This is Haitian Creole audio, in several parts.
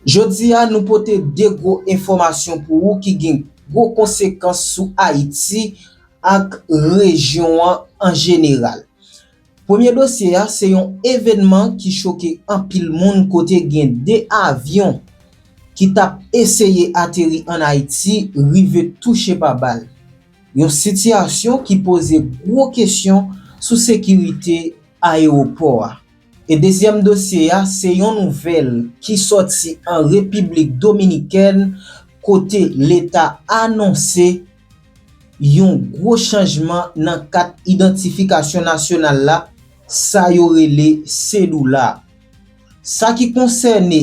Jodi a nou pote 2 gwo enfòmasyon pou ou ki gen gwo konsekans sou Ayiti ak rejyon an an jeneral. Premye dosye a se yon evènman ki choke anpil moun kote gen 2 avyon ki t ap eseye ateri an Ayiti rive touche pa bal. Yon sitiyasyon ki poze gwo kesyon sou sekirite ayewopò a. E dezyèm dosye a, se yon nouvèl ki sòti an Repiblik Dominikèn kote leta anonse yon gwo chanjman nan kat idantifikasyon nasyonal la, sa yo rele Cedula. Sa ki konsène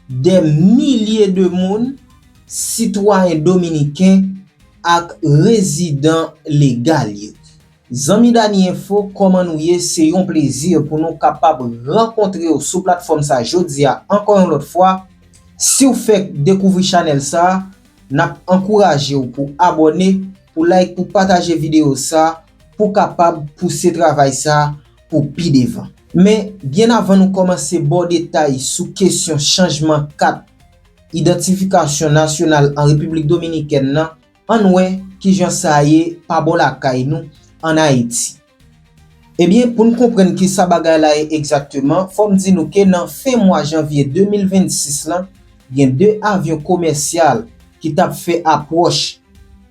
dè milye de moun, sitwayen dominiken ak rezidan legal yo. Zanmi Danie Info kòman nou ye se yon plezi pou nou kapab rankontrew sou platfòm sa jodia ankò yon lòt fwa, siw fèk dekouvri chanèl sa nap ankourajew pou abòne pou like pou pataje video sa pou kapab pouse travay sa pou pi devan. Men byen avan nou kòmanse baw detay sou kesyon chanjman kat idantifikasyon nasyonal an repiblik dominikèn nan Ann wè ki jan sa ye pa bò lakay nou, ann Ayiti. Ebyen, pou n konprann ki sa bagay la ye egzakteman, fò m di nou ke nan fen mwa janvye 2026 lan, gen 2 avyon komèsyal ki t ap fè apwòch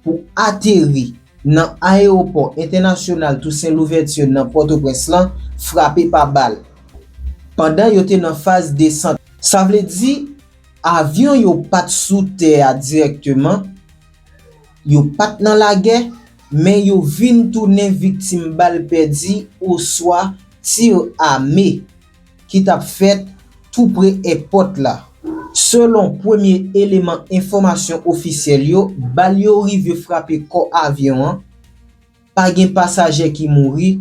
pou ateri nan Ayewopò Entènasyonal Tousen Louvèti nan Pòtoprens lan frape pa bal, pandan yo te nan faz desant. Sa vle di, Avyon yo pa t sou tè a dirèkteman, yo pa t nan lagè, men yo vin tounen viktim bal pèdi oswa tir ame ki t ap fèt tou pre èpòt la. Selon premye eleman enfòmasyon ofisyèl yo, bal yo rive frape kò avyon an, pa gen pasaje ki mouri,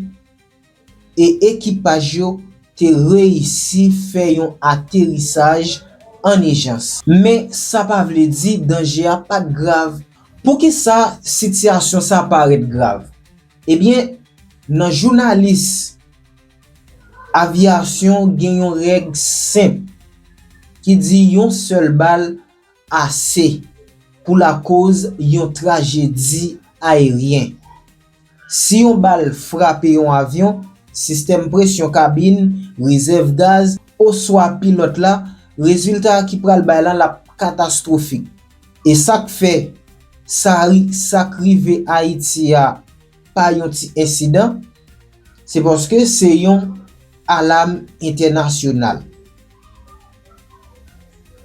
e ekipaj yo te reyisi fè yon aterisaj an ijans. Men sa pa vle di danje a pa t grav. Poukisa sitiyasyon sa parèt grav? Ebyen, nan jounalis aviyasyon gen yon règ senp ki di yon sèl bal ase pou lakòz yon trajedi ayeryen. Si yon bal frape yon avyon, sistèm presyon kabin, rezèv gaz, oswa pilòt la, rezilta ki pral bay lan lap katastwofik. E sak fè sa ri sak rive Ayiti a pa yon ti ensidan, se paske se yon alam entènasyonal.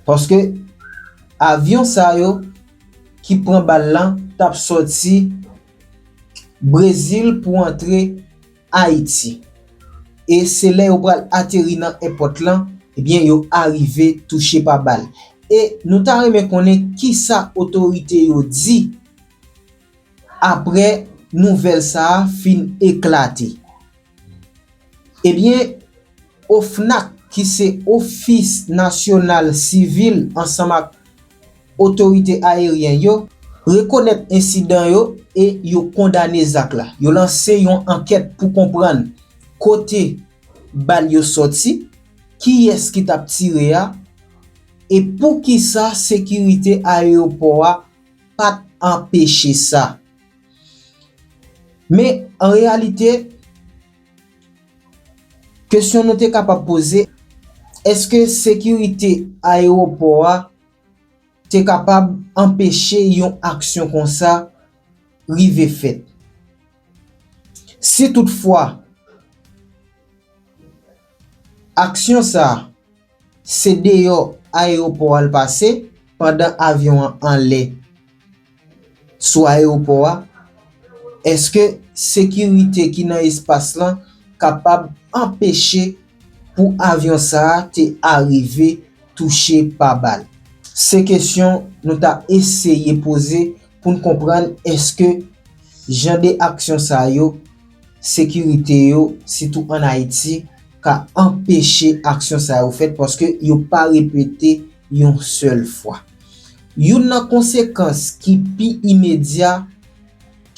Paske avyon sa yo ki pran bal lan tap sòti. Brezil pou antre Ayiti. E se lè yo pral ateri nan èpòt lan, ebyen yo arive touche pa bal. E nou ta renmen konnen kisa otorite yo di aprè nouvèl sa a fin eklate. Ebyen OFNAC ki se ofis nasyonal sivil ansanm ak otorite ayeryen yo rekonèt ensidan yo e yo kondane zak la. Yo lanse yon ankèt pou konprann kote bal yo sòti, kiyès ki t ap tire a e poukisa sekirite ayewopò a pa t anpeche sa. Men, an reyalite, kesyon nou te kapab poze, èske sekirite ayewopò a te kapab anpeche yon aksyon konsa rive fèt? Si toutfwa, aksyon sa a Se deyò ayewopò a l pase pandan avyon an anlè sou ayewopò a. Èske sekirite ki nan espas lan kapab anpeche pou avyon sa a te arive touche pa bal? Se kesyon nou ta eseye poze pou n konprann èske jan de aksyon sa yo sekirite yo, sitou an Ayiti, ka anpeche aksyon sa yo fèt paske yo pa repete yon sèl fwa. Youn nan konsekans ki pi imedya,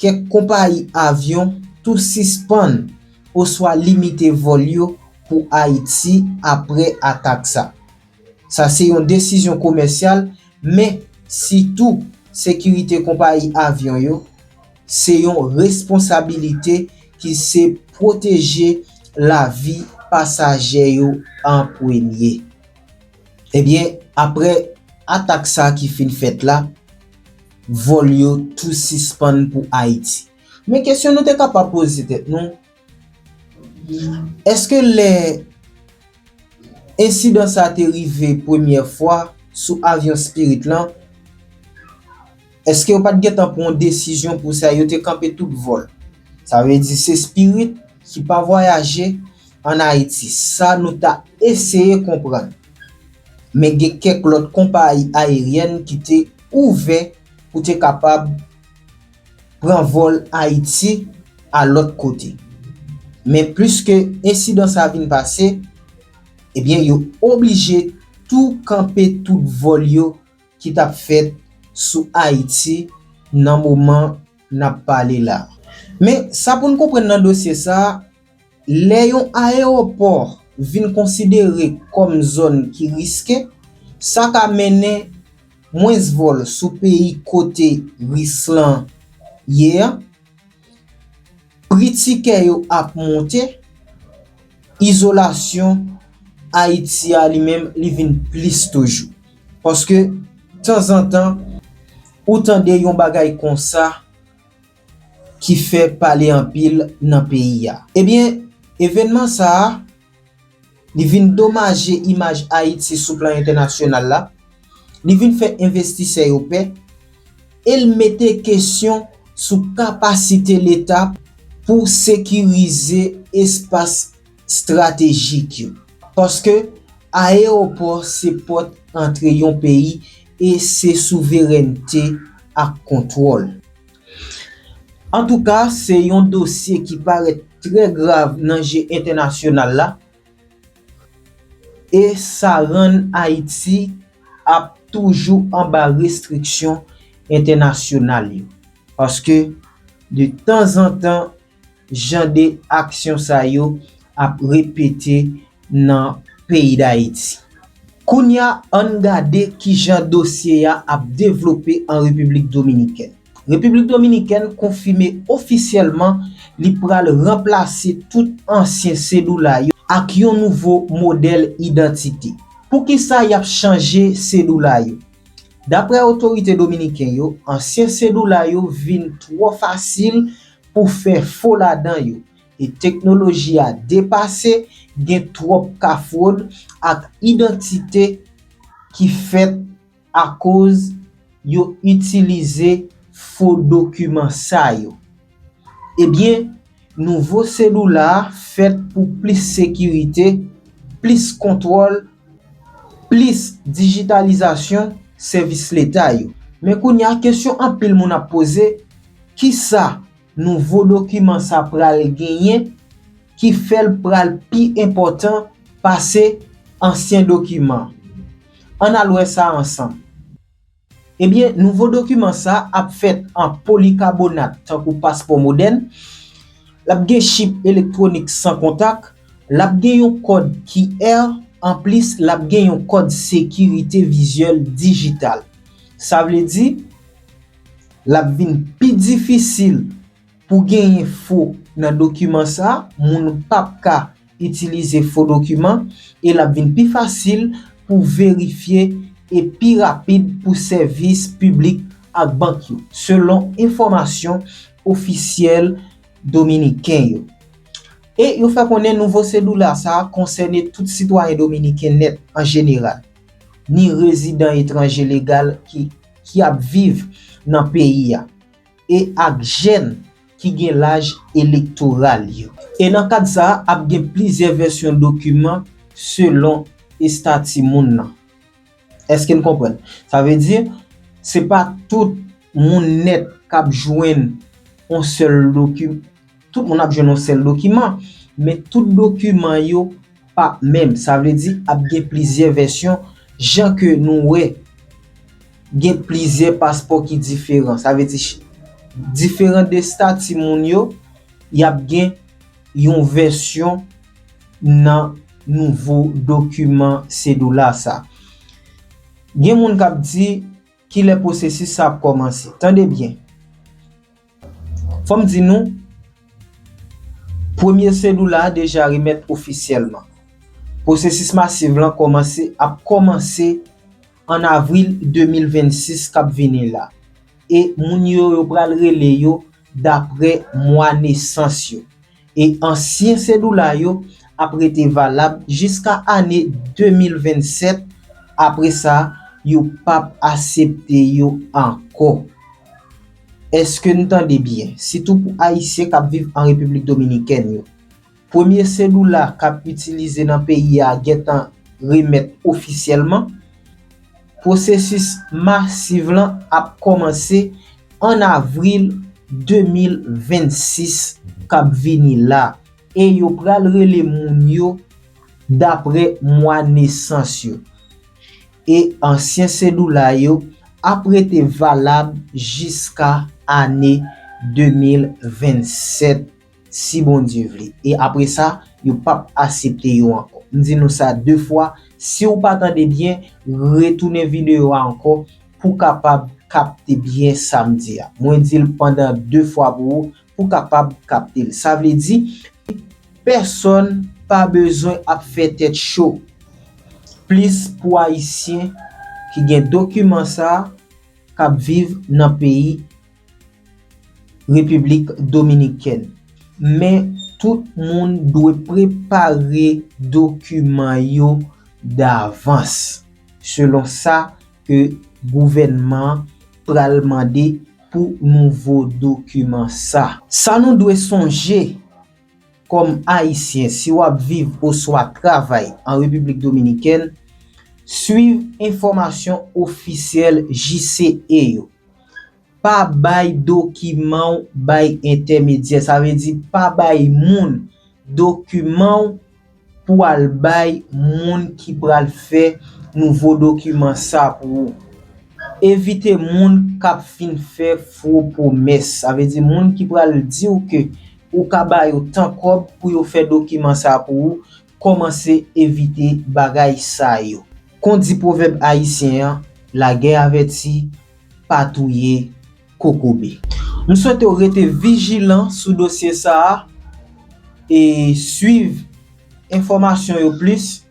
kèk konpayi avyon tou sispann oswa limite vòl yo pou Ayiti apre atak sa. Sa se yon desizyon komèsyal, men sitou sekirite konpayi avyon yo, se yon responsabilite ki se pwoteje lavi pasaje yo an premye. Ebyen, apre atak sa ki fin fèt la, vòl yo tou sispann pou Ayiti. Men kesyon nou te kapab poze tèt nou, Eske lè ensidan sa te rive premyè fwa sou avyon Spirit lan, eske yo pat gentan pran yon desizyon pou sa, yo te kanpe tout vòl? Sa vle di se Spirit ki pa vwayaje an Ayiti, sa nou ta eseye konprann. Men gen kèk lòt konpayi ayeryèn ki te ouvè pou te kapab. pran vòl Ayiti a lòt kote. Men pliske ensidan sa vin pase, ebyen yo oblije tou kanpe tout vòl yo ki t ap fèt sou Ayiti nan moman n ap pale la. Men sa pou n konprann nan dosye sa, Lè yon ayewopò vin konsidere kòm zòn ki riske, sa ka mennen mwens vòl sou peyi kote risk lan ye an, pri tikè yo ap monte, izolasyon Ayiti a li menm li vin plis toujou. Paske tanzantan ou tande yon bagay konsa. ki fè pale anpil nan peyi a. Ebyen, evènman sa a, li vin domaje imaj Ayiti sou plan entènasyonal la, li vin fè envestisè yo pè, e l mete kesyon sou kapasite Leta pou sekirize espas estratejik yo. Paske, ayewopò se pòt antre yon peyi e se souverènte ak kontwòl. Antouka se yon dosye ki parèt trè grav nan je entènasyonal la e sa rann Ayiti ap toujou anba restriksyon entènasyonal yo. Paske de tanzantan Jan de aksyon sa yo ap repete nan peyi Dayiti. Kounye a, an n gade ki jan dosye a ap devlope an Repiblik Dominikèn. Repiblik Dominikèn konfime ofisyèlman li pral ranplase tout ansyen sedoula yo ak yon nouvo modèl idantite. Poukisa y ap chanje sedoula yo? Daprè otorite dominiken yo, ansyen sedoula yo vin twò fasil pou fè fo ladan yo e teknoloji a depase, gen twòp ka fwod ak idantite ki fèt akoz yo itilize fo dokiman sa yo. Ebyen, nouvo selula a fèt pou plis sekirite, plis kontwòl Plis dijitalizasyon sèvis leta yo. Men kounye a kesyon anpil moun ap poze, kisa nouvo dokiman sa pral genyen ki fè l pral pi enpòtan pase ansyen dokiman? Ann al wè sa ansanm. Ebyen, nouvo dokiman sa a ap fèt an polikabonat tankou paspò modèn, l ap gen chip elektwonik san kontak, l ap gen yon kòd QR, anplis l ap gen yon kòd sekirite vizyèl dijital. Sa vle di, l ap vin pi difisil. Pou genyen fo nan dokiman sa, moun pap ka itilize fo dokiman e l ap vin pi fasil pou verifye e pi rapid pou sèvis piblik ak bank yo, selon enfòmasyon ofisyèl dominiken yo. E yo fè konnen nouvo sedula sa konsène tout sitwayen dominiken nèt an jeneral, ni rezidan etranje legal ki ap viv nan peyi a. e ak jèn ki gen laj elektoral yo. E nan kad sa a, ap gen plizyè vèsyon dokiman selon estati moun nan. Èske n konprann? Sa vle di, se pa tout moun nèt k ap jwenn yon sèl dokiman. Tout moun ap jwenn yon sèl dokiman, men tout dokiman yo pa menm. Sa vle di ap gen plizyè vèsyon, jan ke nou wè gen plizyè paspò ki diferan. Sa vle di, diferan de stati moun yo, y ap gen yon vèsyon nan nouvo dokiman Cedula sa. Gen moun k ap di, kilè pwosesis sa ap kòmanse? Tande byen! Fòm di nou, premye selou la deja remèt ofisyèlman. Pwosesis masiv lan kòmanse ap kòmanse an avril 2026 kap vini la e moun yo yo pral rele yo dapre mwa nesans yo. e ansyen sedula yo ap rete valab jiska ane 2027, apre sa yo pap asepte yo ankò. Eske n tande byen? Sitou pou Ayisyen k ap viv an Repiblik Dominikèn yo. Premye sedula k ap itilize nan peyi a gentan remèt ofisyèlman. Pwosesis masiv lan ap kòmanse an avril 2026 k ap vini la e yo pral rele moun yo dapre mwa nesans yo. E ansyen sedoula yo ap rete valab jiska ane 2027. Si Bondye vle. E apre sa, yo p ap asepte yo ankò. M di nou sa de fwa, si ou pa tande byen, retounen videyo a ankò pou w kapab kapte byen sa m di a. Mwen di l pandan de fwa pou ou, pou w kapab kapte l. Sa vle di, pèsòn pa bezwen ap fè tèt cho. Plis pou Ayisyen ki gen dokiman sa a, k ap viv nan peyi. Repiblik Dominikèn. Men, tout moun dwe prepare dokiman yo davans, selon sa ke gouvènman an pral mande pou nouvo dokiman sa. Sa nou dwe sonje! Kòm Ayisyen, si w ap viv oswa travay an Repiblik Dominikèn, swiv enfòmasyon ofisyèl JCE yo. Pa bay dokiman w bay entèmedyè, sa vle di pa bay moun dokiman w, Pou al bay moun ki pral fè nouvo dokiman sa pou ou. Evite moun k ap vin fè fo pwomès. Sa vle di moun ki pral di ou ke ou ka ba yo tan kòb pou yo fè dokiman sa pou ou, kòmanse evite bagay sa yo. Kon di pwovèb ayisyen an, lagè avèti pa touye. kokobe. M swete w rete vijilan sou dosye sa a e swiv enfòmasyon yo plis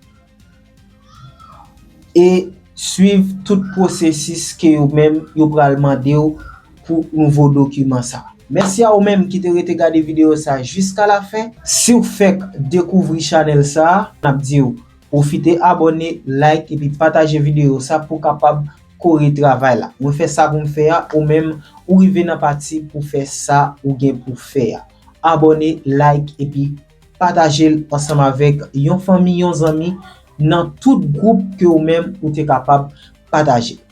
e swiv tout pwosesis ke yo menm yo pral mande w pou nouvo dokiman sa a. Mèsi a ou menm ki te rete gade videyo sa jiska lafen. Si w fèk dekouvri chanèl sa a, n ap di w. Pwofite abone, like epi pataje videyo sa pou kapab kore travay la. Mwen fè sa pou m fè a, ou menm ou rive nan pati pou fè sa ou gen pou fè a. Abone, like epi pataje l ansanm avèk yon fanmi, yon zanmi nan tout gwoup ke ou menm ou te kapab pataje.